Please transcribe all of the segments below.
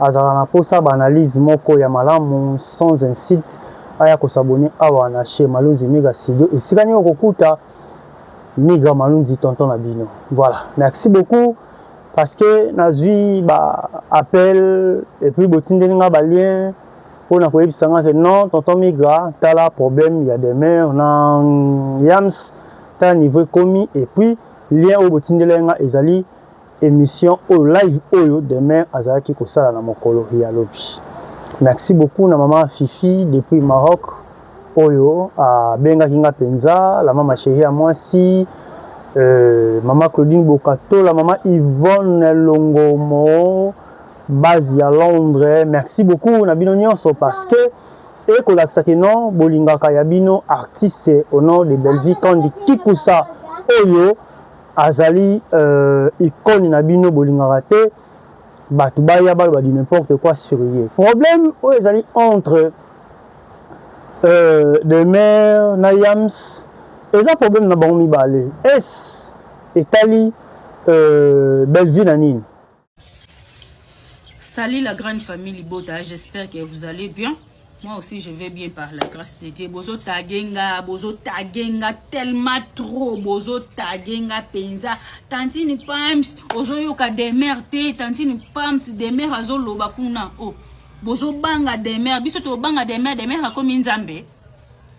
azalaka na posa ba analyse moko ya malamu sans insulte aya ko s'abonner awa na chez Malunzi Migra Studio esika nini oko kuta Migra Malunzi tonton na bino voilà merci beaucoup parce que nazui ba appel et puis botindeli nga ba lien pona koyebisa nga ke non tonton Migra tala problème ya demeure na Yams tala niveau ekomi et puis lien oyo botindeli nga ezali Emission oyo live oyo demeure azalaki kosala na mokolo ya lobi. Merci beaucoup na mama Fifi depuis Maroc oyo abengaki nga penza la mama chérie ya mwasi euh, mama Claudine Bokato la mama Yvonne Longomo base ya Londres. Merci beaucoup na bino nyonso parce que ekolakisa ke non bolingaka ya bino artiste au nom de Bellevue Kandi Kikusa oyo Azali euh, icone na bino bolingaka te bato baya baloba du n'importe quoi sur ye. Problème oyo ezali entre euh, demeure na yams eza problème na bango mibale es etali euh, bellevue na nini Salut la grande famille Libota, j'espère que vous allez bien. Moi aussi, je vais bien par la grâce de Dieu. Bozo tagenga, bozo tagenga, tellement trop, bozo tagenga, penza. Tantine Pams, ozo yoka demeure te, tantine Pams, demeure azo loba kuna. Oh, bozo banga demeure, biso to banga demeure, demeure akomi nzambe.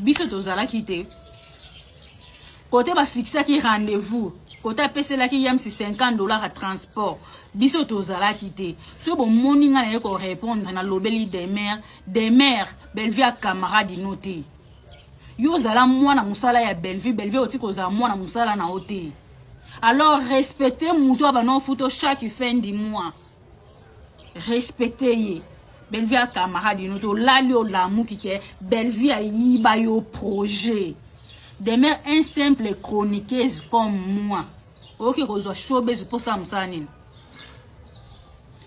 biso tozalaki te kote bafikisaki rendez-vous kote apeselaki yamsi 50 dollars ya transport biso tozalaki te soki bomoni ngai naye korépondre nalobeli demer demer bellevue ya camarade ino te yo ozala mwana mosala ya bellevue bellevue oti kozala mwana mosala na yo te alors respecte moto ya bana ofuto chaque fin du mois respecte ye bellevue ya camarade ino tolali olamuki ke bellevue ayiba yo projet demeure un simple chroniqueuse comme moi oyoki kozwa showbase mposala mosala nini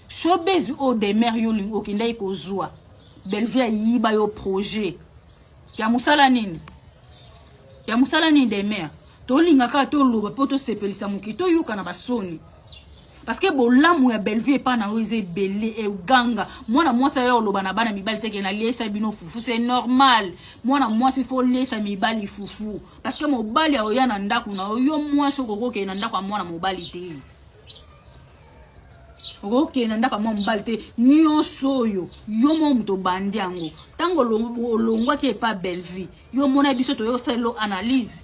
showbase oyo demeure yo olingi okendaki kozwa bellevue ayiba yo projet ya mosala nini ya mosala nini demeure tolinga kaka toloba mpo tosepelisa mokili toyoka na basoni parce que bolamu ya bellevue epai na yo eza ebele eganga mwana mwasi aya oloba na bana mibali teke naliesa bino fufu c'est normal mwana mwasi fo oliesa mibali fufu parce que mobali aoya na ndako na yo yo mwasi okoki okende na ndako ya mwana mobali te okoki okende na ndako ya mwa mobali te nyonso oyo yo mwa moto obandi yango ntango olongwaki epai bellevue yo mona biso toyei kosalelo analyse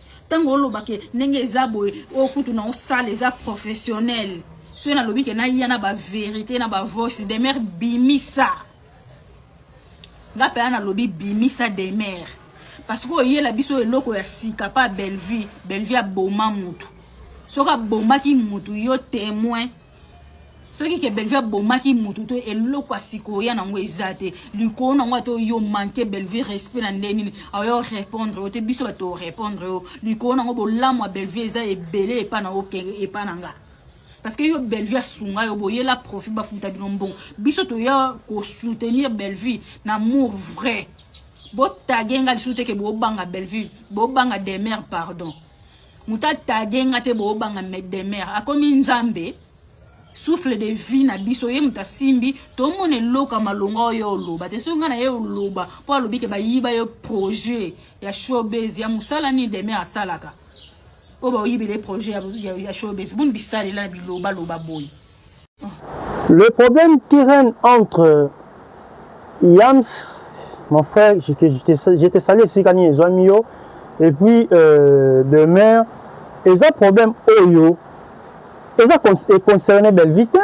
ntango oloba ke ndenge eza boye oyo kutu na osala eza professionnel soki nalobi ke naya na baverité na bavoice demeure bimisa nga mpela nalobi bimisa demeure parce que oyela biso eloko ya sika mpa bellevue bellevue aboma motu soki abomaki motu yo témoin soki ke bellevue abomaki motu to eloko ya sikoyo ya nango eza te likolo nango ata yo manke bellevue respect na ndenge nini aoya orépondre yo te biso bato orépondre yo likolo nango bolamu ya bellevue eza ebele epa na okenge epa na nga parce que yo bellevue asunga yo boyela profit bafuta bino mbongo biso toya kosoutenir bellevue na amour vrai botage nga lisusu te ke bobanga bellevue bobanga demeure pardon moto atage nga te boobanga maître de mer akomi nzambe souffle de vie na biso ye moto asimbi tomona eloko ya malonga oyo oloba te soki ngai na ye oloba mpo alobi ke bayiba yo projet ya showbase ya mosala nini de mer asalaka oyo baoyibele projet ya showbase boni bisalela na bilobaloba boye Le problème qui règne entre Yams, mon frère, je te, je te, je te salue esika nini ezwami yo, et puis euh, demeure, eza problème oyo, eza concerne Bellevue te,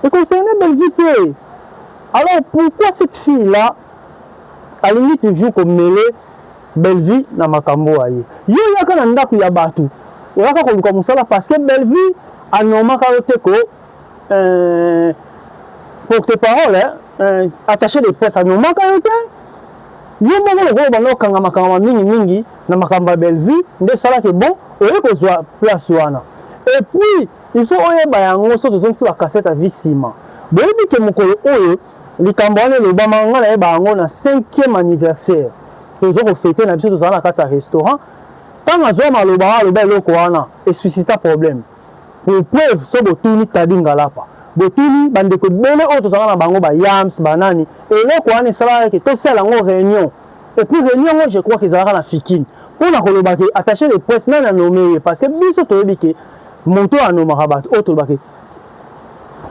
e concerne Bellevue te. Alors pourquoi cette fille-là alingi toujours komele Bellevue na makambo oyo aye. Yo oyaka na ndaku ya batu, oyaka koluka musala parce que Bellevue a normaka yo te ko euh, porte parole hein, euh, attaché de presse a normaka yo te. Yo moko lokola obanda okangama kangama mingi mingi na makambo ya Bellevue nde esalaki bon oye kozwa place wana. Et puis il faut oyeba yango soki tozongisi ba cassette ya vie sima. Boyebi ke mokolo oyo Likambo wana elobama nga nayeba yango na 5e anniversaire tozo ko fete na biso tozala na kati ya restaurant ntango azwa maloba wana aloba eloko wana esuscita problème pour preuve so botuni Taddy Ngalapa botuni bandeko ebele oyo tozalaka na bango ba yams banani eloko wana esalaka ke tosala yango réunion et puis réunion yango je crois kezalaka na fikine mpo na koloba ke attaché de presse nani anome ye parce que biso toyebi ke moto oyo anomaka bato oyo tolobaka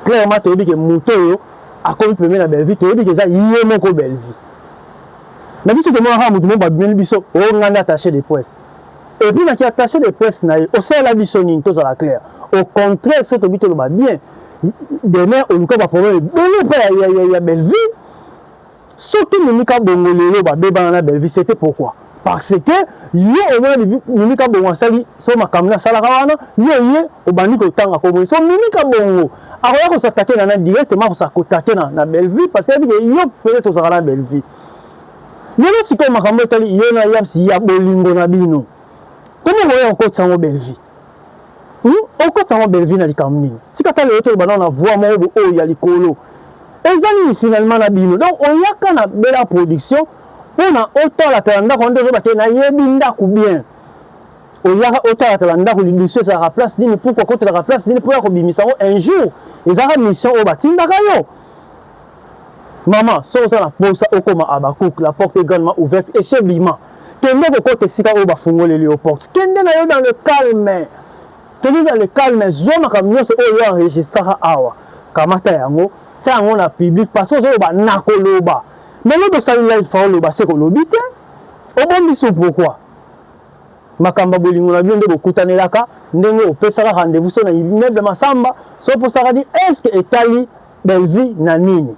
clairement toyebi ke moto oyo akomi pembeni na Bellevue toyebi ke eza ye moko Bellevue na biso tomonaka moto moko babimeli biso o oh, ngai nde attaché de presse epuis naki attaché de presse na ye osalela biso nini tozala claire au contraire soki tobi toloba bien demain oluka baproblème ebele mpe ya, ya, ya, ya Bellevue Soki Mimi Kabongo lelo ba bebana na Bellevue c'était pourquoi? Parce que yo omona Mimi Kabongo asali so makambo asalaka wana yo ye obandi kotanga kombo so Mimi Kabongo akoya ko s'attaquer na na directement ko s'attaquer na na Bellevue parce que yebi yo peut-être ozalaka na Bellevue lelo sikoyo makambo etali yo na Yams ya bolingo na bino komi okoya kokotisa yango Bellevue Hmm? Okotisa yango Bellevue na likambo nini? Tika ta lelo toloba nao na voix moko bo oyo ya likolo. Eza nini finalement na bino? Donc oyaka na Bella Production pona otalatala ndako nde ozoba te nayebi ndako bien. Oyaka otalatala ndako lidusu ezalaka place nini? Pourquoi kotelaka place nini? Mpo ya kobimisa yango un jour ezalaka mission oyo batindaka yo. Mama, soki oza na posa okoma Habacuc, la porte est grandement ouverte, esi obima. Kende kokota esika oyo bafungoleli yo porte. Kende na yo dans le calme. Kende dans le calme, zwa makambo nyonso oyo yo enregistraka awa. Kamata yango, tia yango na public parce que ozoloba nakoloba. Lelo tosali live fa oloba se kolobi te. Obombi su pourquoi? makambo ya bolingo na bino nde bokutanelaka ndenge opesaka rendez-vous so na immeuble masamba so oposaka ni eske etali Bellevue na nini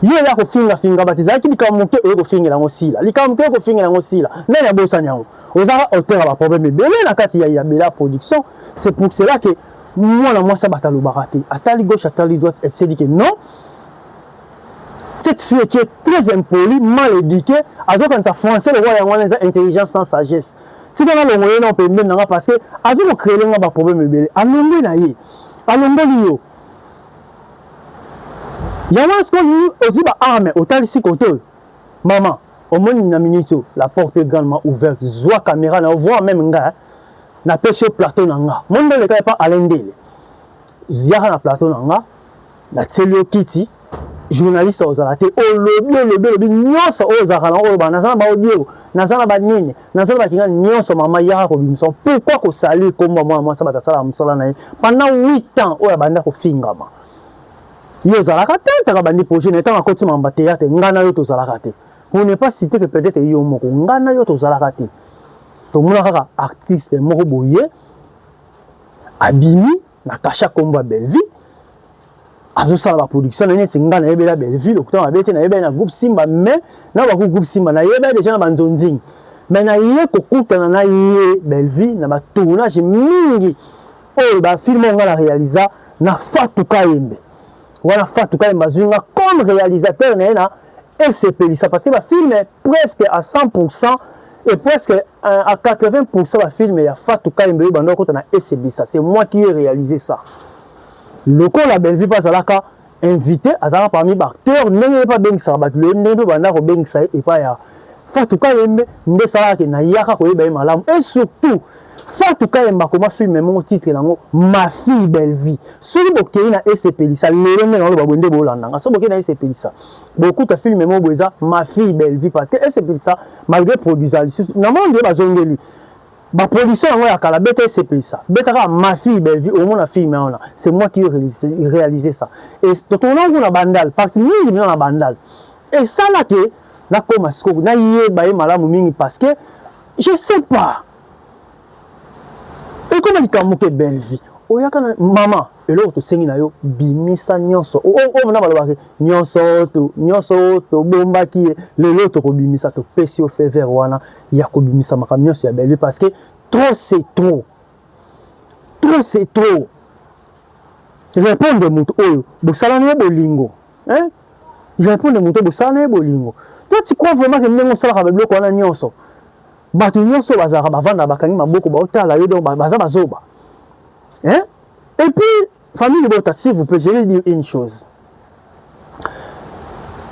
yo oya kofinga finga bati ezalaki likambo moke oye kofingela yango sila likambo moke oye kofingela yango sila nani abosani yango ozaka auteur ya baproblème ebele na kati ya yabela production c'est pour cela que mwana mwasi abata alobaka te atali gauche atali droite elle s'est dit que non cette fille qui est très impolie mal éduquée azokanisa français lokola yango wana eza intelligence na sagesse tika nalongo ye na pembeni na nga parce que azo kocrele nga baproblème ebele alongue na ye alongoli yo yango wana sikoyo olingi ozwi ba arme otalisi kote oyo mama omoni na minute oyo la porte est grandement ouverte zwa kamera na yo voir meme nga napesi yo plateau na nga moni ndoleka epa alain ndele yaka na plateau na nga natieli yo kiti journaliste ozala te olobi olobi olobi nyonso oyo ozalaka na oloba naza na baaudio naza na banini naza na bakinga nyonso mama yaka kobimisa pourkui kosali nkombo ya mwana mwasi bato asalaka mosala na ye pendant 8 ans oyo abanda kofingama yo ozalaka te ntaka bandi projet na ntango akoti mamba teyate ngai na yo tozalaka te on n'est pas cité que peut-être yo moko ngai na yo tozalaka te tomona kaka artiste moko boye abimi na kasha kombo ya Bellevue azosala ba production na neti nga nayebela Bellevue lokuta mabe te nayebela na groupe Simba mais na baku groupe Simba nayebela deja na banzonzing mais naye kokutana na ye Bellevue na ba tournage mingi oyo ba film oyo nga na realisa na Fatou Kayembe wana Fatou Kahembe azwi nga comme réalisateur na ye na esepelisa parce que ba films presque à 100% et presque euh, à 80% ba films ya Fatou Kahembe oyo banda okota na esebisa c'est moi qui ai réalisé ça lokola Bellevue mpe azalaka invité azalaka parmi baacteur ndenge ye mpe abengisaka bato loyebi ndenge mpe banda kobengisa ye epai ya Fatou Kahembe nde esalaka ke nayaka koyeba ye malamu et surtout Fatou Kayemba akoma film moko titre nango Ma fille Bellevue. Soki bokei na esepelisa lelo nde naloba boye nde bolanda nga. Soki bokei na esepelisa bokuta film moko boye eza Ma fille Bellevue parce que esepelisa malgré produisant lisusu na moni nde bazongeli ba production yango ya kala beta esepelisa beta kaka Ma fille Bellevue omona film wana c'est moi qui réalisé ça et totona kuna bandal partie mingi na bandal et ça là que nakoma sikoyo naye baye malamu mingi parce que je sais pas ekoma likambo moke belvi oyaka na mama eloko tosengi na yo bimisa nyonso oyo na balobaka nyonso to nyonso oyo tobombaki ye lelo tokobimisa topesi yo fever wana ya kobimisa makambo nyonso ya belvi parce que trop c'est trop trop c'est trop répondre moto oyo bosala na ye bolingo hein répondre moto oyo bosala na ye bolingo toi tu crois vraiment que ndenge osalaka babiloko wana nyonso Bato nyonso bazalaka bavanda bakangi maboko baotala yo donc baza bazoba. Hein? Et puis famille libota s'il vous plaît je vais dire une chose.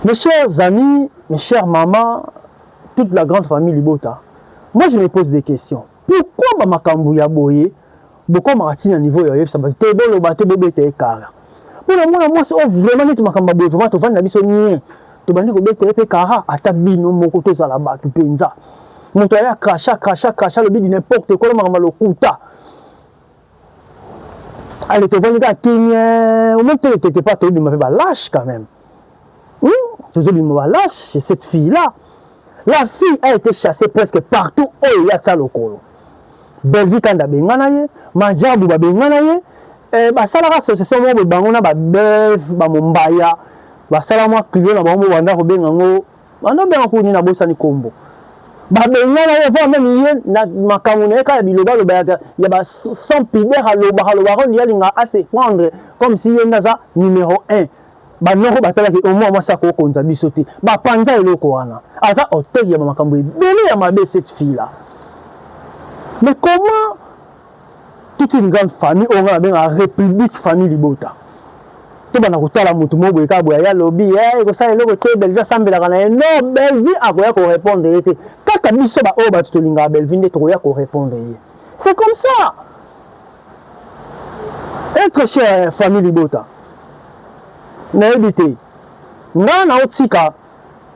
Mes chers amis, mes chers mamans, toute la grande famille libota. Moi je me pose des questions. Pourquoi ba makambo ya boye bokomaka ti na niveau ya oyebisa bato te boloba te bobeta ye kara mpo na mwana mwasi oyo vraiment neti makambo ya boye vraiment tovandi na biso nie tobandi kobeta ye mpe kara ata bino moko tozala bato mpenza moto aya kracha kracha kracha lobi di n'importe ekolo makambo ya lokuta ale tovandi kaka kimie omeme te letete pa tobima mpe balache quand même Tozo bima ba lâche chez cette fille là. La fille a été chassée presque partout oyo ya tsa lokolo. Bellevue Kanda bengana ye, Majabu ba bengana ye, eh, basalaka association moko bango na ba Bev, ba Mombaya, basala mwa client na bango banda kobenga ngo banda benga kuni na bosani kombo. Ba bengana ye voire même ye na makambo na ye kaka biloba loba ya, ya ba sans pudeur aloba aloba ko lialinga a se prendre comme si ye ndaza numéro 1 banoko batalaki omwa mwasi akoki kokonza biso te bapanza eloko wana aza otei ya bamakambo ebele ya mabe cette fille là mais comment toute une grande famille oyo ngai nabengaka république famille libota tobanda kotala motu moko boye kaka boye aya lobi eh, ekosala eloko te bellevie asambelaka na ye non bellevie akoya korépondre ye te kaka biso baoyo bato tolingaka bellevie nde tokoya korépondre ye c'est comme ça Etre cher famille libota nayebi te nga naotika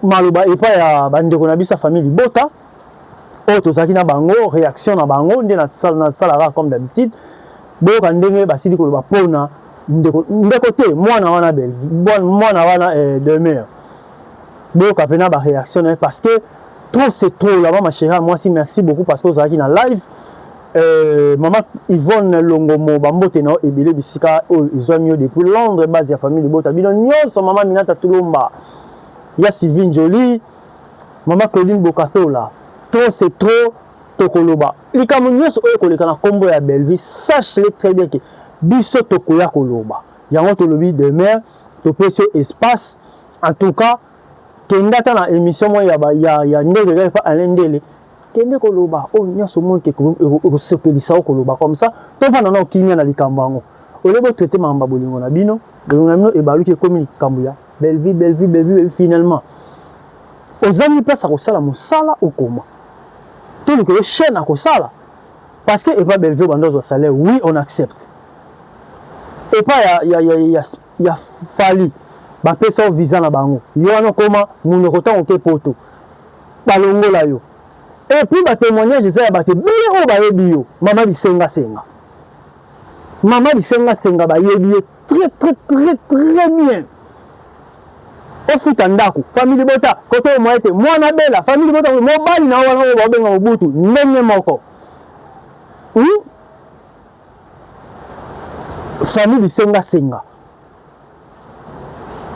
maloba epai ya bandeko na biso ya famille libota oyo tozalaki na bango réaction na bango nde nasalaka comme d'habitude boyoka ndenge basili koloba mpona ndeko ndeko te mwana wana bel mwana wana eh, demeure boyoka mpena baréaction na ye parce que trop c'est trop laba ma chérie ya mwasi merci beaucoup parce que ozalaki na live Euh, maman Yvonne Longomo, bambote na ebele bisika oyo ezwami yo depuis Londres, base ya famille libota bino nyonso, maman Minata Tulomba, ya Sylvie Njoli, maman Claudine Bokatola, trop c'est trop, tokoloba likambo nyonso oyo koleka na kombo ya Bellevue, sache le très bien que biso tokoya koloba yango, tolobi demeure, topesi yo espace, en tout cas kenda ata na émission moya ya, ya, ya ndele kaka epa Alain Ndele Kende koloba oyo nyonso omoni ke ekosepelisa yo koloba comme ça tovanda nao kimia na likambo yango au lieu bo traiter makambo ya bolingo na bino bolingo na bino ebaluki ekomi likambo ya Bellevue Bellevue Bellevue Bellevue finalement ozangi place ya kosala mosala okoma toluka yo chaîne ya kosala parce que epa Bellevue obanda ozwa salaire oui on accepte epa ya, ya, ya, ya, ya Fally bapesa yo visa na bango yo wana okoma monoko ntango oke poto balongola yo et puis ba temoignage eza ya bato ebele oyo bayebi yo mama bisenga senga mama bisenga senga bayebi yo très très très très bien ofuta ndako famille libota koto oyo moye te mwana bela famille libota mobali na wana oyo baobenga mobutu ndenge moko hmm? famille bisenga senga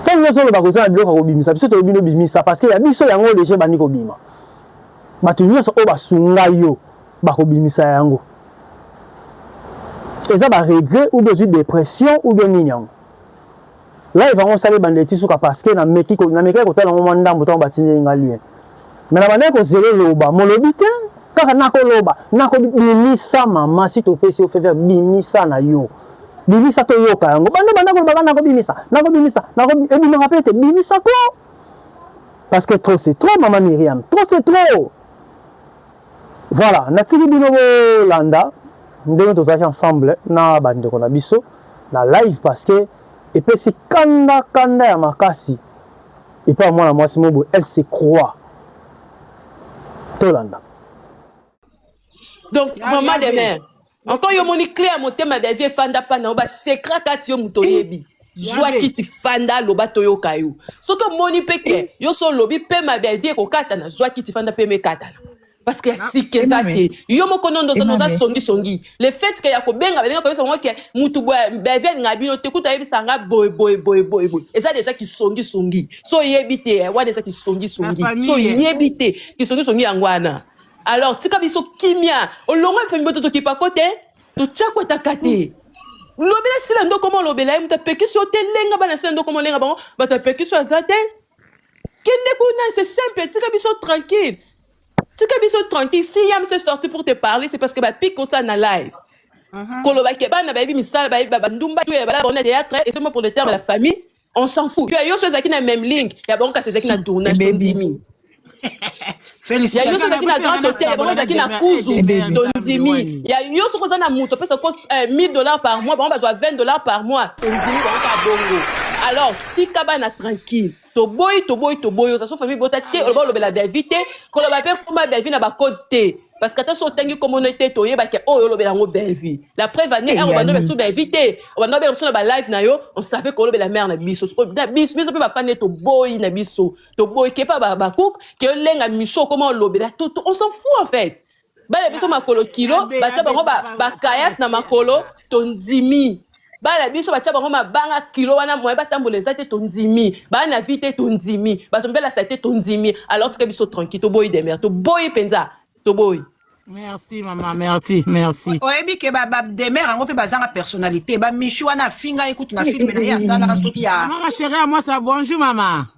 Tango nyoso oloba koza na biloko ya kobimisa, biso toyebi bino bimisa parce que ya biso yango oyo deja ebandi kobima. Bato nyoso oyo basunga yo bakobimisa yango. Eza ba regret ou bien ozwi depression ou bien nini yango? Live yango osali ebanda tii suka parce que nameki ko namekaki kotala yango mwa ndambo tango batindeli nga lien. Mais na bandaki kozela eloba molobi te kaka nakoloba nako bimisa mama si topesi yo fever bimisa na yo bimisa toyoka yango banda banda kolobaka nako bimisa nako bimisa nako ebimaka pe te bimisa ko parce que trop c'est trop mama Myriam trop c'est trop voilà natiki bino bolanda ndenge tozalaki ensemble na bandeko na biso na live parce que epesi kanda kanda ya makasi epai ya mwana mwasi moko boye elle se croit tolanda donc vraiment de mère encore yo moni clé ya motema bia vie fanda pana ba secret kati yo moto oyebi zwa kiti fanda loba toyoka yo soki omoni mpe ke yo so olobi pema bia vie ekokatana zwa kiti fanda mpe mekatana parce que ya sika eza te yo moko nondo oza oza songi songi le fait que ya kobenga balinga koyebisa bango ke mutu beve alinga bino te kutu ayebisa nga boye boye boye boye boye eza deja kisongi songi so oyebi te eh, wana eza kisongi songi so oyebi te kisongi songi yango wana alors tika biso kimia olongo efemi boto tokipa ko te totya kwataka te lobela sila ndokoma olobela ye moto apekisi yo te lenga bana sila ndokoma olenga bango bato apekisi yo aza te kende kuna c'est simple tika biso tranquille tika biso tranquille si yam se sorti pour te parler c'est parce que bapik osa na live Mhm. koloba ke bana bayebi misala bayebi ba- bandumba tu ya bala borne théâtre et seulement pour le terme de la famille on s'en fout yo yo so ezalaki na même ligne ya bango kasi ezalaki na tournage to Ebebi. ndimi ya yo so Félicitations. ezalaki na grand hôtel ya bango ezalaki na kuzu Ebebi. to ndimi ya yo soki oza na moto opesa ko 1000 dollars par mois bango bazwa 20 dollars par mois to ndimi bango ka bongo alors tika bana tranquille toboyi toboyi toboyi oza so famille bota te oloba olobela biavi te koloba mpe koma biavi na bacode te parce que ata so otangi komono te toyebaka oyo oh, olobela yango biavi la preuve ane eh, ero banda obela biso biavi te obanda obela biso na balive na yo on savait kolobela mare na biso na biso biso mpe bafani ye toboyi na biso toboyi kepa babakuke olenga miso okoma olobela tutu on s'en fout en fait bana biso makolo kilo batya bango bakayas na makolo tondimi bana biso batya bango mabanga kilo wana moye batambola eza te tondimi baa na vie te tondimi bazombelasa te tondimi alors tika biso tranquille toboyi demer toboyi mpenza toboyi merci mama merci merci oyebi ke bademer yango mpe bazanga personnalité bamichu wana afinga ye kutu na filme na ye asalaka soki ya mama chérie ya mwasa bonjour mama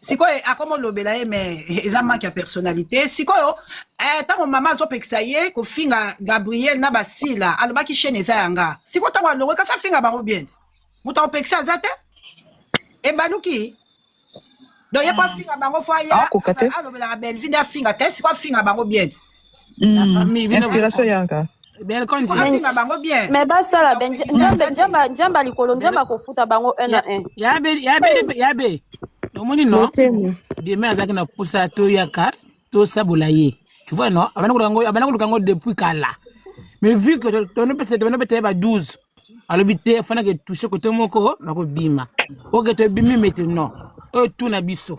sikoyo akoma olobela ye mais eza manque ya personnalité sikoyo eh, ntango mama azopekisa ye kofinga gabriel na basila alobaki chaine eza yanga sikoyo ntango alongwe kasi afinga bango bien te moto akopekisa aza te ebaluki donc ye po afinga bango fo aye Akoka te. alobelaka belvi nde afinga te sikoyo afinga bango bien te Mm. Inspiration yanga. kofinga bango bien mais basala be nzambe likolo nzambe akofuta bango un à un yabe omoni no demain azalaki na posa toyaka tosabola ye tu vois no abanda koluka yango depuis kala mais vu que tonopesa tonopesa beteye ba 12 alobi te afanaki etouche kote moko nakobima oke tobimi mete non oyo tuna biso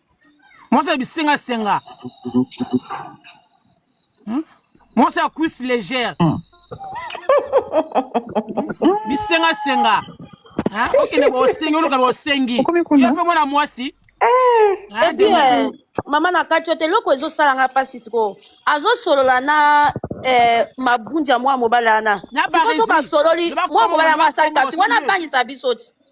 mwasi ya bisenga senga hmm? mwasi ya cuisse légère hmm. bisenga senga okende bosengi oluka bosengi yo mpe mwana mwasi epi eh. ah, eh, mama na kati ote eloko ezosala nga mpasi sikoyo azosolola na eh, mabunja mwa mobali wana sikoso basololi mwa mobali yango asali kati wana abangisa biso ti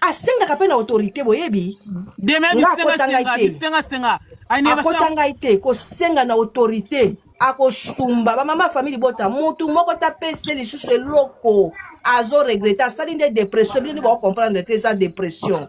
asengaka mpe na autorité boyebi akota ngai te kosenga na autorité akosumba bamama famille libota mutu moko tapese lisusu eloko azo regrete asali nde depression bino nde baocomprendre te eza depression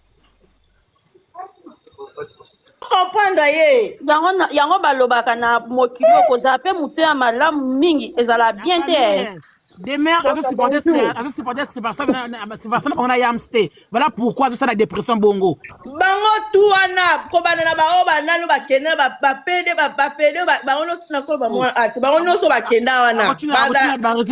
comprendre ye yango na- yango balobaka na mokili oko ozala mpe moto ya malamu mingi ezala bien te eh. demeure azo supporte azo supporte sebastian na- na- na- sebastian na bango na yams te voilà pourquoi azosala depression bongo bango tu wana kobanda na baoyo banano bakende na ba- bapede ba- bapede ba- bango nyonso nakoba mwana ate bango nyonso bakenda wana bango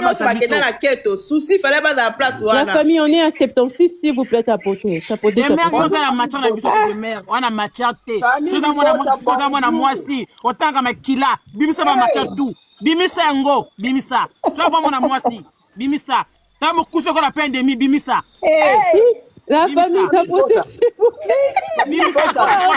nyonso bakenda na keto susi fale bazala place wana la famille on est à 76 s'il vous plaît tapote tapote oza na matière na biso de mère wana matière te toza mwana mwasi toza mwana mwasi otanga makila bimisa ba matière tout bimisa yango bimisa soki mwana mwasi bimisa Na mokuse ko na peine de mi bimisa. Eh, la famille ta potesi. Bimisa,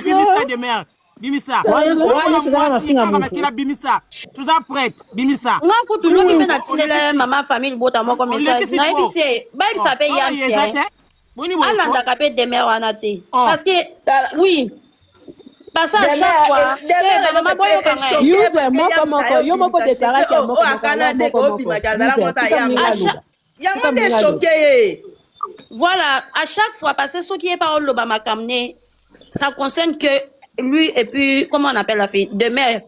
bimisa de merde. Bimisa. Wana sika na finga mo. Kila bimisa. Tous en prête, bimisa. Nga ko tu lobi pe na tinela maman famille bota moko message. Na ebise, ba ebisa pe yam. Alandaka pe demeure wana te. Parce que oui. yango nde choke ye voilà à chaque fois parce que soki ye pa oloba makambo ne ça concerne que lui et puis comment on appelle la fille demeure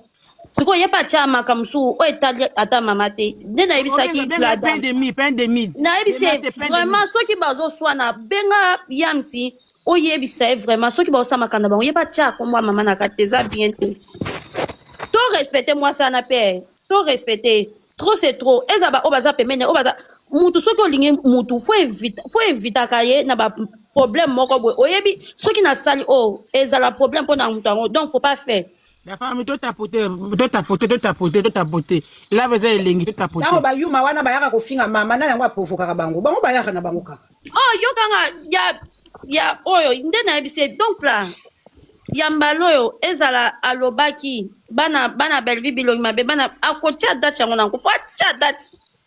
sikoyo ye pa atya makambo mosusu oyo etali ata mama te nde nayebisaki nayebisi vraiment soki bazoswana benga yamsi oyebisa ye vraiment soki baosala makambo na bango ye batya kombo ya mama na kati eza bien te to respecte mwasi wana mpe to respecte trop c'est trop eza baoyo baza pembeni oyo baza mutu soki olingi mutu fo evita fo evitaka ye na ba problème moko boye oyebi soki nasali oyo ezala problème mpo na moto yango donc faut pas faire La femme to tapote to tapote to tapote to tapote la eza elengi to tapote. Tango ba yuma wana bayaka kofinga mama na yango aprovokaka bango bango bayaka na bango kaka. Oh yo kanga ya ya oyo nde na yebise donc là ya mbala oyo ezala alobaki bana bana Bellevue bilongi mabe bana akotia date yango nango po atia date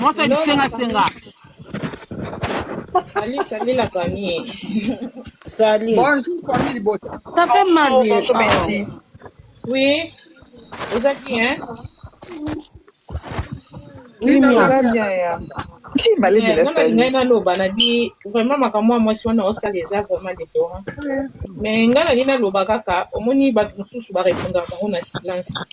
Mwasi ya bisenga senga. Salut, salut la famille. Salut. Bonjour famille libota. Ça fait mal. Bonjour, bonjour, merci. Oui. Eza bien, hein? Oui, Mia. Eza bien, ya. Qui m'a l'air de la famille? Ngai naloba na bi vraiment makambo ya mwasi wana osala eza vraiment deplorant. Mais ngai nali naloba kaka omoni bato mosusu barepondaka bango na silence.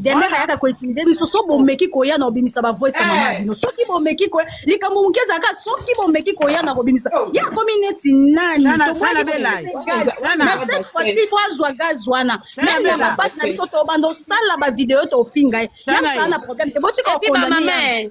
Demeure ayaka ko intimider biso so bomeki koya na obimisa ba voice ya mama na bino soki bomeki koya likambo moke ezalaka soki bomeki koya na kobimisa ye akomi neti nani Sana- Toboyaki sana bela. kopesa ye gaz. Sana- na cette fois-ci il faut azwa gaz wana Sana meme ya bela. bapasi na biso tobanda osala bavideo tofinga ye Sana meme saa ye. na problème te botika Et puis, kokondane mama ye mère,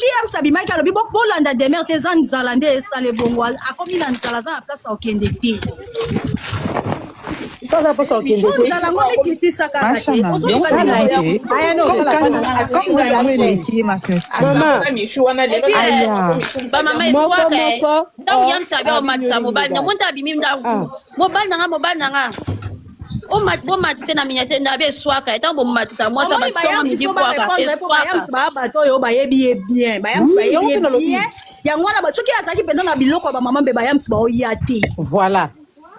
James abimaki alobi bo bolanda demeure te eza nzala nde esala ebongo akomi na nzala aza na place ya kokende te toza mposa okende te yango mikitisa kaka te ozobamama mobali na nga mobali na nga bomatise na miniature na bie eswaka etango bomatisa mwasi abatonga midi kwaka eswakabayamsi baya bato oyo bayebi ye bien bayamsi bayebi ye bien yango wana soki azalaki mpenza na biloko ya bamama mpe bayamsi baoya te voilà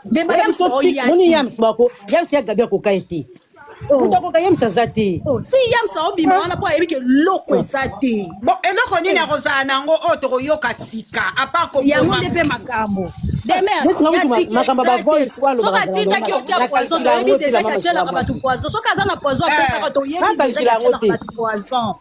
mpe bayamsi baoya te yamsi ya gabi akoka ye te moto akoka yamsa aza te oh, ti yamsa obima wana mpo ayebi ke loko eza te bon eloko nini akozala na yango oyo tokoyoka sika apart yango nde mpe makambo makambo bavoice walosoki atindaki otya poison toyebi deja ke atyelaka bato poison soki aza na poison apesaka toyebi deja ke atyelaka bato poison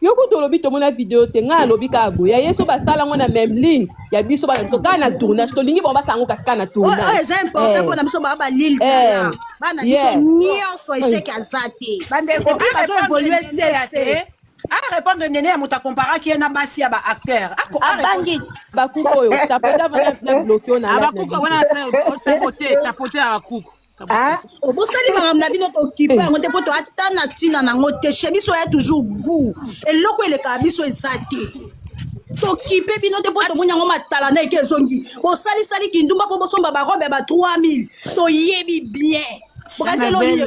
yo kutu olobi tomona video te ngai alobi kaka boye ya ye so basala yango na meme ligne ya biso bana biso kaka na tournage tolingi bango basala yango kasi kaka na oyo oyo tournage eza important Eh, mpona biso baa balil eh, tala bana biso yeah. nyonso echec aza te bandeko epuis bazo évolue sese arépondre nene ya moto akomparaki ye na basi ya baacteur abangi bakuku oyo tapote avanda na bloke oyo na lab na abakuku biso wana asala tapote tapote abakuku Ah, obosali makambo na bino tokipe yango te mpo to ata na ntina nango te chez biso ya toujours gout eloko elekaka biso eza te tokipe bino te mpo tomoni yango matala na eke ezongi bosalisali kindumba mpo bosomba barobe ya ba 3000 toyebi bien bokazeli oyo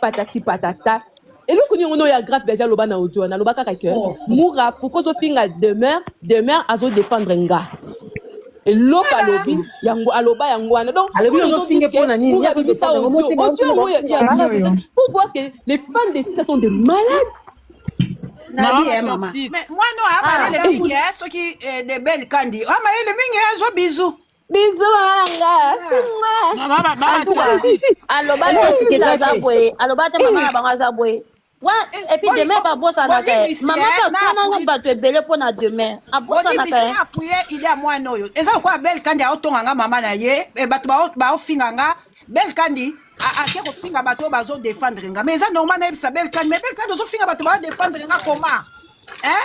patati patata eloko nini yango ya grave deja loba na audio wana loba kaka ke oh. mura pourquoi ozofinga demeure demeure azodefendre nga eloko alobi yango aloba yango wana donc alobi ozofinge mpo na nini abimisa audio yango ya grave pour voir que les fans de sisa sont des malades nabi ye mama mwana oyo amayele mingi soki de belle kandi amayele mingi azo bizu biso malanga aloba te sikeli aza boye aloba te mama na bango aza boye wa epuis demeure babosanaka ye mama bakananga bato ebele mpo na demeure abosanaka ye apuye ile ya mwana oyo eza lokola bel kandi aotonga nga mama na ye eh, bato baofinga nga bel kandi ake kofinga bato oyo bazodefendre nga mais eza normal nayebisa bel kandi mais bel kandi ozofinga bato baodefendre nga koma eh?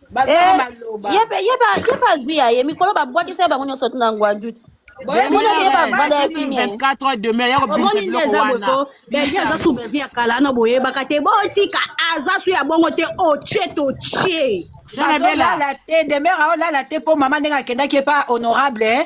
bazala baloba ye pe ye ba ye ba zwi ya ye mikolo ba bwakisa bango nyoso tuna ngwa njuti mona ye ba vanda ya fimi ya ye 24 heures demeure ya ko bimisa omoni nde biloko eza boye wana ko belgi aza su belgi ya kala ana boyebaka te botika aza su ya bongo te otie totie Jean Abela bazolala te demeure aolala te mpo mama ndenge akendaki epa honorable eh.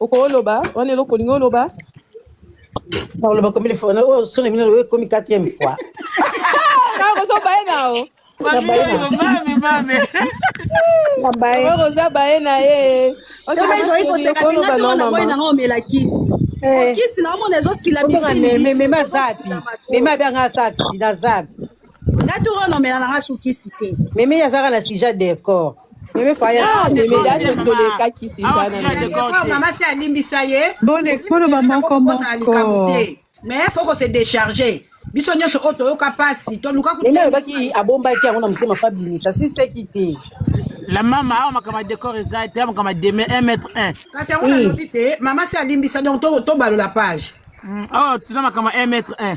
okoloba wana eloko olingi oloba nakoloba combien de fois oyo soni mino oyo ekomi quatrième fois nakozo baye nao nakoza baye na ye ezali koseka tinga toko na boye nango omela kisi eh. kisi naomona ezosila mimeme azapi meme abianga asa aksida azapi nga tour oyo nomela na nga sukisi te meme azalaka na sija decor meme faya ah, meme date tolekaki sija na mama si alimbisa ye bolekoloba moko moko mais faut ko se décharger biso nyonso oyo toyoka mpasi toluka meme alobaki abombaki yango na motema fabimisa si seki te la mama awa makambo ya décor eza te makambo ya deme 1 mètre 1 kasi yango nalobi te mama si alimbisa donc tobalola page awa tuna makambo ya 1 mètre 1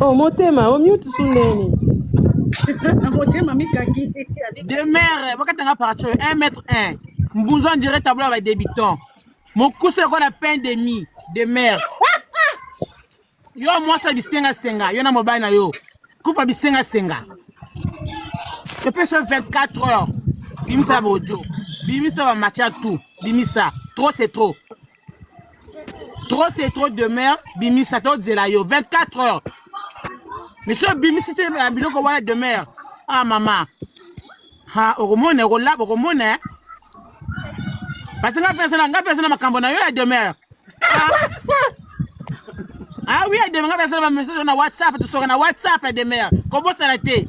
Oh, motema, au mute sous neni. motema mikaki. Demeure, bakatanga paracho 1 mètre 1. Mbunzo on dirait tableau avec débutant. Mokuse ko na pain demi, demeure. Yo mwasa bisenga senga, yo na mobali na yo. Kupa bisenga senga. Epesa 24 heures. Bimisa bojo. Bimisa ba matcha tout. Bimisa. Trop c'est trop. trop c'est trop demeure bimisa tozela yo 24 heures mais soki obimisi te na biloko wana demeure ah mama ha okomona okolaba okomona eh? parce nga mpenza na nga mpenza na makambo na yo ya demeure ah. ah oui ya demeure nga mpenza na bamessage na whatsapp tosoka na whatsapp ya demeure kobosana te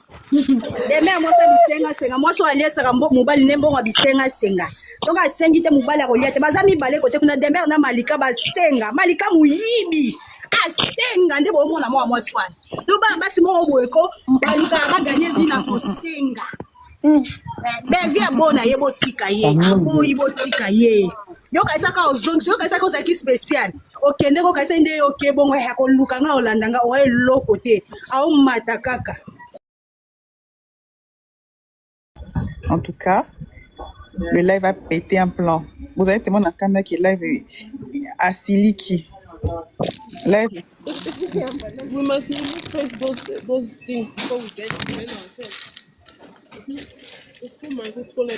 deme ya mwasi ya bisengasenga mwasi oyo aliesaka mobali nde mbongo ya bisengasenga soki asengi te mobali akolia te baza mibale kote kuna demer na malika basenga malika moyibi asenga nde bomona mwa mwasi wana to bana basi moko boye ko balukaka baganye vi na kosenga bevi abona ye botika ye aboyi botika ye yo okanisaka ozongisi yo okanisaka ozalaki spécial okende ko okanisaki nde yo oke bongo ya koluka nga olanda nga oyo eloko te aomata kaka en tout cas le live a pété un plan vous avez tellement nakanda que live asiliki live we must remove first those those things before we get to ourselves. If you might go to the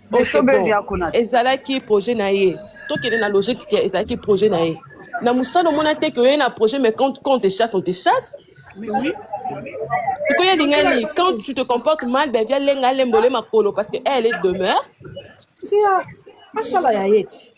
ezalaki projet na ye tokende na logique ke ezalaki projet na ye na mosala omona te ke oye na projet mais quand, quand on te chasse on te chasse sikoyo elinga nini quand tu te comportes mal ben via lenga alembole makolo parce que elle est demeure asala ya ye ti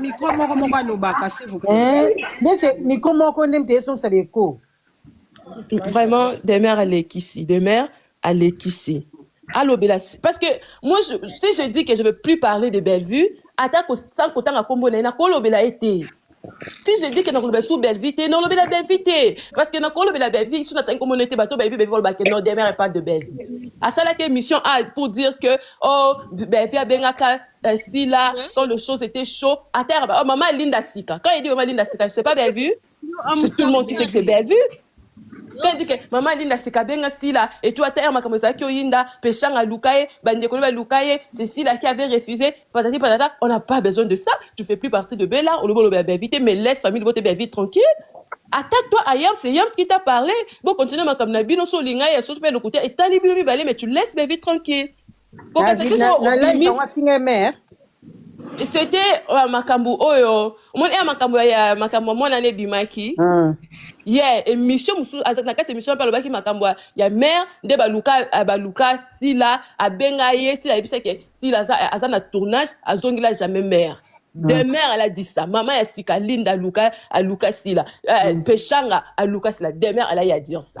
mikro moko moko alobaka ndete mikro moko nde mte esongisa beko vraiment demeure alekisi demeure alekisi alobela parce que moi je, si je dis que je veux plus parler de bellevue ata kotanga nkombo na ye nakolobela ye te Si je dis que na koloba sous Bellevue te, na lobela Bellevue te. Parce que na kolobela Bellevue, sous nataki ko monete bato Bellevue Bellevue ba que non demeure est pas de Bellevue. Asala ke mission a pour dire que oh Bellevue abengaka euh, Sila quand le chose était chaud. Atera ba oh maman Linda Sika. Quand il dit maman Linda Sika, c'est pas Bellevue. C'est tout le monde qui sait que c'est Bellevue. Pe dit que maman Linda sika benga Sila et tout ata makambo ezalaki oyinda peshanga luka ye bandeko ne baluka ye c'est Sila qui avait refusé patati patata on n'a pas besoin de ça tu fais plus partie de Bella olobi olobi ya Beavite mais laisse famille libote Beavite tranquille attaque toi à Yams c'est Yams qui t'a parlé bo continuer makambo na bino so olinga ye so pe lokuta etali bino mibale mais tu laisses Beavite tranquille Kokata David, na, soki na live obimi yango afinga ye mère. c'était uh, makambo oyo omoni ya makambo ya- ya makambo ya mwana na ebimaki Ah. ye yeah, émission mosusu azalaki na kati ya émission mpe alobaki makambo ya- ya mare nde baluka ah, baluka sila abenga ye sila ayebisaki ye, sila aza, eh, aza na tournage azongela jamais mare Mm. de mare aladi sa mama ya sika linda aluka aluka sila eh, peshanga aluka sila de mare alayi ya dire sa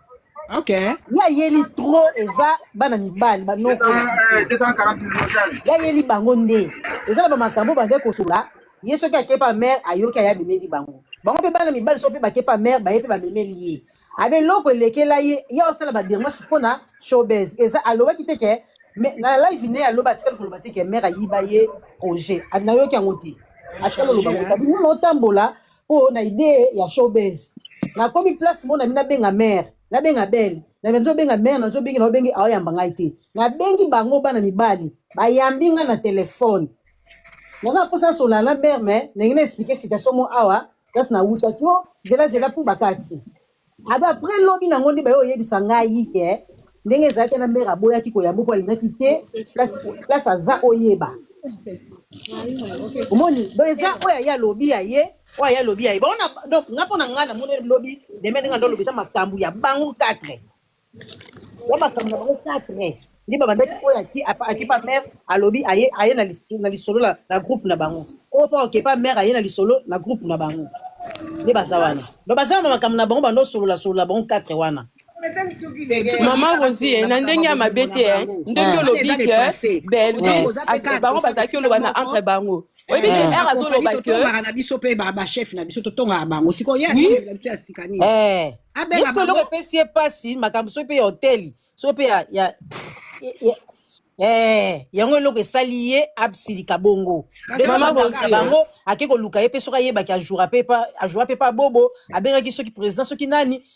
Okay. ya yeli trop eza bana mibali banoko ya yeli bango nde eza na bamakambo bande kosola ye soki akepa mare ayoki aya bimeli bango bango mpe bana mibali soki mpe bakepa mare baye mpe bamemeli ye abe eloko elekela ye ye osala badermage mpo na showbes eza alobaki te ke me- na live ne aloba atikali koloba te ke mare ayiba ye projet Ah, nayoki yango te atikali koloba yango te Abi, nini otambola po na idee ya showbiz nakomi place mona mi nabenga mare nabenga bele nazobenga mare nazobengi naobengi aoyamba ngai te nabengi bango bana mibali bayambi ngai na telefone naza mposa nasola na mare me ndenge na explike situation mo awa place nawutaki o zelazela mpo bakati Abe après lobi nango nde baye oyebisa ngai ke ndenge ezalaki na mère aboyaki koyambo mpo alingaki te place place aza oyeba omoni donc eza oyo aye alobi ya ye oyo aye alobi ya ye baona donc nga mpo na ngai namoni lobi deme ndenge ando alobi eza makambo ya bango 4 ya makambo na bango quatre nde babandaki oyo akipa mare alobi aye aye na lisolo na groupe na bango oyo mpo okepa mare aye na lisolo na groupe na bango nde baza wana do baza na makambo na bango bando osolola solola bango quatre wana mama rosi eh, na ndenge ya mabe te eh. ndenge ah. olobi ke belbe bango bazalaki oloba na entre bango oyebi eh, que r azoloba que totongaka na biso mpe bachef na biso totongaka bango sikoyo ye atongela biso ya sika nini eh. abengaka eloko epesi ye mpasi makambo soki mpe ya hoteli soki mpe ya Eh, yango eloko esali ye asilika bongo na bango ake koluka ye mpe soki ayebaki ajoura mpe ajoura mpe pa bobo abengaki soki président soki nani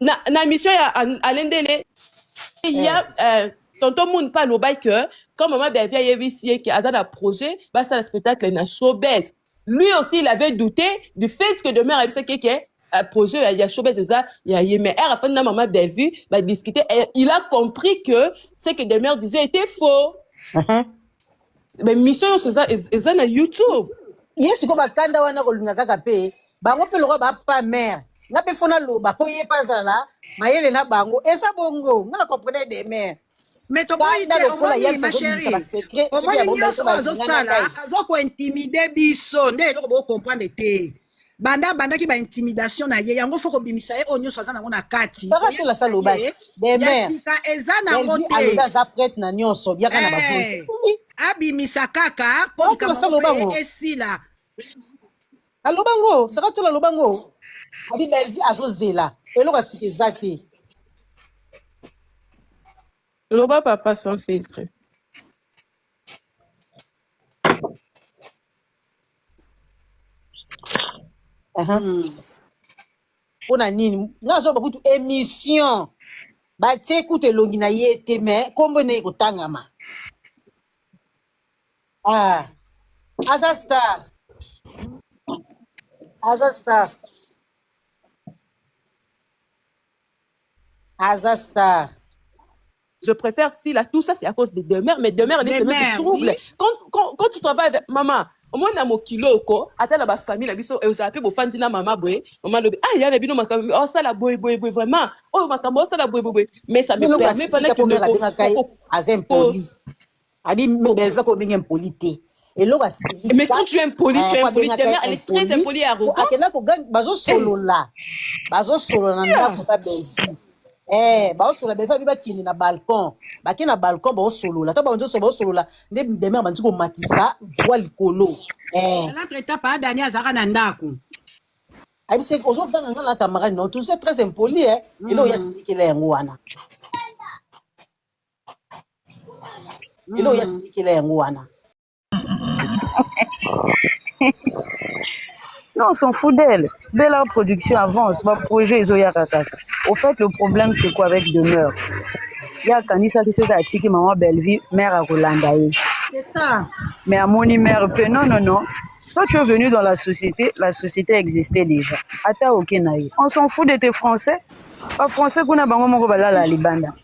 na, na émission ya alendele il y a euh, tonton moon pa alobaki que quand mama beavi ayebisi ye ke aza na projet basala spectacle na showbase lui aussi il avait douté du fait que demeure ayebisaki ke euh, projet ya, ya showbase eza ya ye mais ere afandi na mama beavi badiscute il a compris que ce que demeure disait était faux uh -huh. ba mission nyonso eza ez- eza na youtube ye sikoyo bakanda wana kolinga kaka mpe bango mpe lokola bapa mare nga mpe fo naloba mpo ye mpe azala mayele na bango eza bongo nga na comprene de mare me toboyi kanda te lokola omoni yamsi ma azobimisa chérie basecret soki omoni abomba ye nyonso mpe oyo balinga na azosala ngai aza kointimide biso nde eloko bokokomprendre te banda abandaki ba intimidation na ye yango fo kobimisa ye oyo nyonso aza nango na kati kaka tola sa lobaki ya demeure sika eza nango elvi te alobi aza prete na nyonso biaka na Eh, bazuzi sili abimisa kaka mpo Oyo likambo tolosala yango pe obango. esila aloba ngo saka tola aloba ngo abi belvi azozela eloko ya sika eza te Loba papa sans filtre. Aha. Mm. mpo na nini nga nazoba kutu émission batie kutu elongi na ye te mais nkombo ene ekotangama ah. aza star aza star aza star Je préfère Sila, tout ça c'est à cause de demeure, mais demeure elle est semée de Demeure, trouble. oui. Quand, quand, quand tu travailles avec maman, omoni na mokili oyo ko ata na bafamille na biso ezala mpe bofandi na mama boye mama alobi ah ya na bino makambo osala boye boye boye vraiment oyo makambo osala boye boye boye mais ça me Bino permet kasi pas na Tita Pombe kindeko abengaka ye ko- ko- aza impoli. Abi Bellevue ko benga impoli te. Eloko asili. Mais quand tu es impoli, tu es impoli. Ta mère, elle est très impolie et arrogante. Akenda ko gang bazo solola. Bazo solola na ndako ta Bellevue. Eh, ba solola Bellevue abi bakende na balcon. Bakende na balcon ba solola. Ta ba nzo so ba solola nde demeure ba nzo ko matisa voix likolo. Eh. L'autre étape a Daniel Zara na ndako. Abi se ozo ganga ngala camarade non, tu es très impoli eh. Elo ya sikela yango wana. lelo oya silikela yango wana Non, on s'en fout d'elle. Belle Art Production avance, ba projet ezoya kaka. Au fait, le problème c'est quoi avec demeure ye akanisaki soki atiki mama bellevue mère akolanda ye mais amoni mère mpe non non non toi tu es venu dans la société la société existait déjà ata oke na ye on s'en fout de tes français bafrançais kuna bango moko balala libanda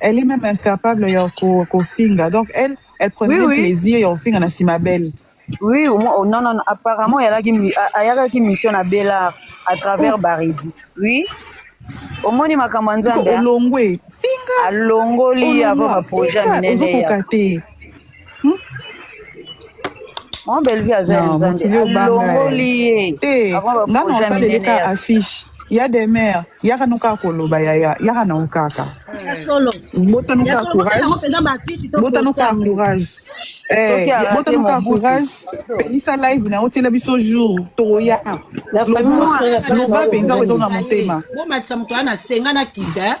Elle est même incapable ya ko- kofinga. Donc elle, elle prenait Oui, oui. plaisir ya kofinga na sima belle. Oui, au moins- oh, non, non, non, apparemment, il y a là qui mi- a- a- y a là qui mission à Bellard à travers Barisi. Oui. Au moins, il m'a Ko commandé olongwe. Finga. alongoli Olongwa. avant ba projet Finga. minene ya Ozokoka te. Hmm? Mon Bellevue aza ya Nzambe. Alongoli ye. Eh, nga na osaleleka affiche. ya demeure yaka no kaka koloba yaya yaka nango kaka bota no kaka courage bota no kaka courage bota no kaka courage pelisa live na otiela biso jour tokoya loba mpenza oyo ezonga motema bomatisa moto wana asenga na kita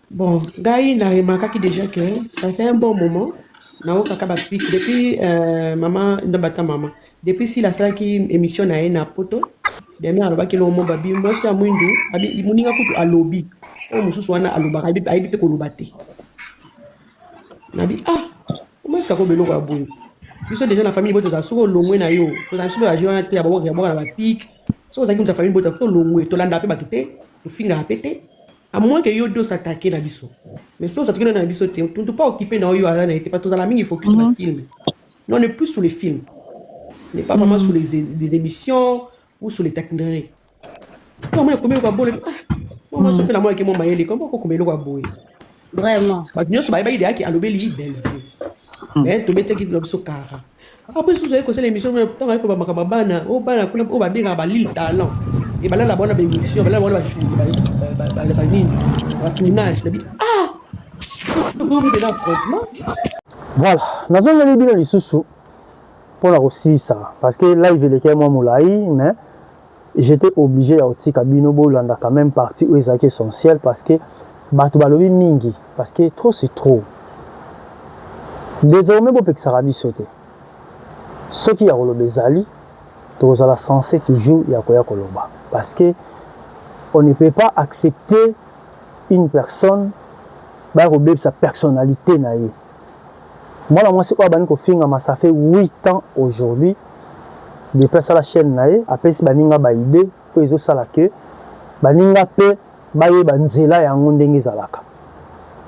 Bon, ngai na remarquaki déjà que ça fait un bon moment naokaka bapic depuis euh, mama ndambata mama depuis sila asalaki émission na ye na poto deme alobaki elongo mo babi mwasi ya mwindu abi- moninga kutu alobi oyo mosusu wana alobaka ayebi ayebi mpe koloba te nabi ah omwasi kakoba eloko ya boye biso déjà na famille boye tozala soki olongwe na yo tozala biso baje wana te ya babwaka ya bwaka na bapik soki ozalaki moto ya famille boye tolongwe tolandaka mpe bato te tofingaka mpe te à moins que yo dos attaquer na biso mais si ozalaki na biso te tu pas occupé na oyo aza na ye te parce tozala mingi focus na mhm. film non ne plus sur les films n'est pas vraiment mhm. sur les, les émissions ou sur les taquineries moi na komi eloko bole ah moi mhm. soki na mwana ke mwa mayele koma kokoma eloko ya boye vraiment bato nyonso bayebaki deyaki alobeli ye belle mais tobetaki na biso kara Après sous ayeko sala émission mais tant ayeko ba makaba bana o oh, bana kuna o oh, ba benga ba lil talent et bala la bona ba émission bala bona ba chou ba ba ba nini ba tournage na bi ah ko ko de l'affrontement voilà nazongeli bino lisusu mpona kosilisa parce que live elekei mwa molai mais J'etais oblige ya kotika bino bolanda quand meme partie oyo ezalaki essentielle parce que batu balobi mingi parce que trop c'est trop. Desormais bopekisaka biso te. Soki ya koloba ezali tokozala sense toujours ya koya koloba parce que on ne peut pas accepter une personne baya kobebisa personnalite na ye. mwana mwasi oyo abandi kofingama ça fait 8 ans aujourd'hui depuis asala chaîne na ye apesi baninga baide oyo ezosala ke baninga mpe bayeba nzela yango ndenge ezalaka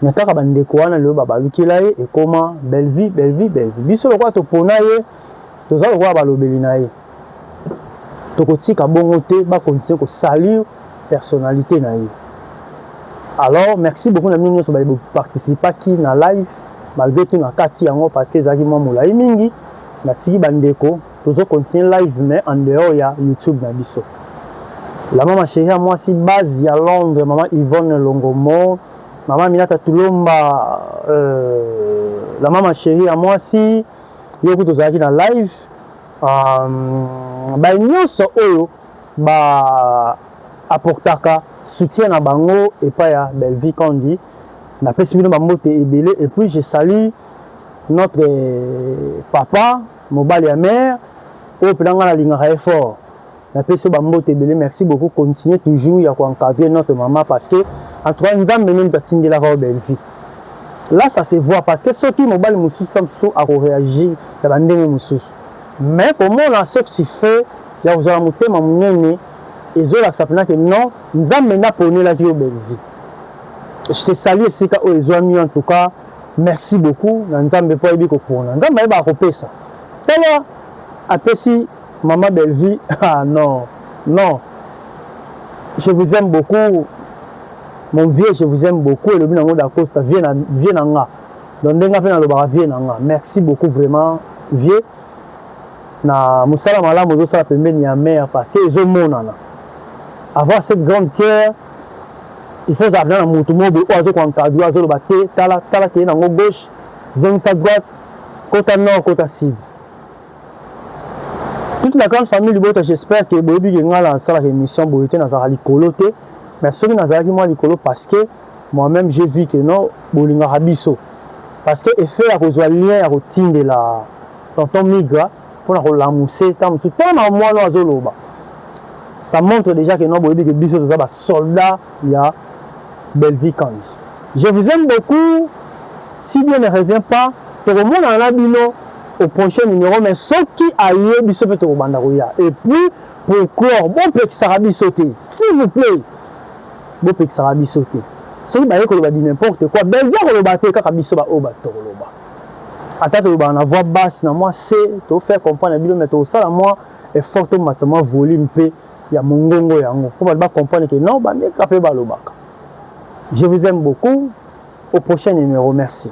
me kaka bandeko wana lelo babalukela ye ekoma bellevie bellevie bellevie biso lokola topona ye toza lokola balobeli na ye tokotika bongo te ba continuer ko salir personnalité na ye alors merci beaucoup na bino nyonso baye boparticipaki na live malgré tout na kati yango parce que ezalaki mwa molai mingi natiki bandeko tozo continue live mais en dehors ya youtube na biso la mama chérie ya mwasi base ya londres mama yvonne longomo mama minata tulomba euh, la mama chérie ya mwasi yo kutu ozalaki na live Hum, ba nyonso oyo ba apportaka soutien na bango epai ya Bellevue Kandy, napesi bino ba mbote ebele et puis je salue notre euh, papa mobali ya mère oyo mpenza ngai nalingaka ye fort Na peso ba mbote ebele merci beaucoup continuer toujours ya ko encadrer notre maman parce que en tout cas nzambe nde moto atindelaka yo belle vie là ça se voit parce que soki mobali mosusu ta mosusu ako réagir ya ba ndenge mosusu mais komona ce que tu fais ya kozala motema monene ezolakisa mpena ke non nzambe nde aponelaki yo belle vie je te salue esika oyo ezwami en tout cas merci beaucoup na nzambe mpo ayebi kopona nzambe ayebaka kopesa tala apesi Maman Bellevue, ah non, non. Je vous aime beaucoup. Mon vieux, je vous aime beaucoup. Et le binango d'Acosta, vieux na, vieux na nga. Donc, ndenga pe na lobaka vieux na nga. Merci beaucoup vraiment, vieux. Na musala malamu ozo sala pembeni ya mère parce que ezo monana. Avoir cette grande cœur, il faut avoir na mutu mobe oyo azo ko encadrer, azo loba te, tala tala ke na ngo gauche, zongisa droite, kota nord, kota sud. toute la grande famille libota j'espère que boyebi ke ngai nasalaka émission boye te nazalaka likolo te mais soki nazalaki mwa likolo parce que moi-même j'ai vu que non bolingaka biso parce que effet ya kozwa lien ya kotindela tonton migra mpo na kolamuse ntango mosusu ntango na mwana azoloba ça montre déjà que non boyebi ke biso toza basoldat ya Bellevue Kandy je vous aime beaucoup si Dieu ne revient pas tokomonana na bino au prochain numero mais soki aye biso pe tokobanda koya et puis pour clore bopekisaka biso te s'il vous plaît bopekisaka biso te soki baye koloba du n'importe quoi Bellevue akoloba te kaka biso ba oyo bato tokoloba ata tolobaka na voix basse na mwa se to faire comprendre na bino mais tokosala mwa effort tomatisa mwa volume pe ya mongongo yango mpo bato ba comprendre que non bameka mpe balobaka je vous aime beaucoup au prochain numéro merci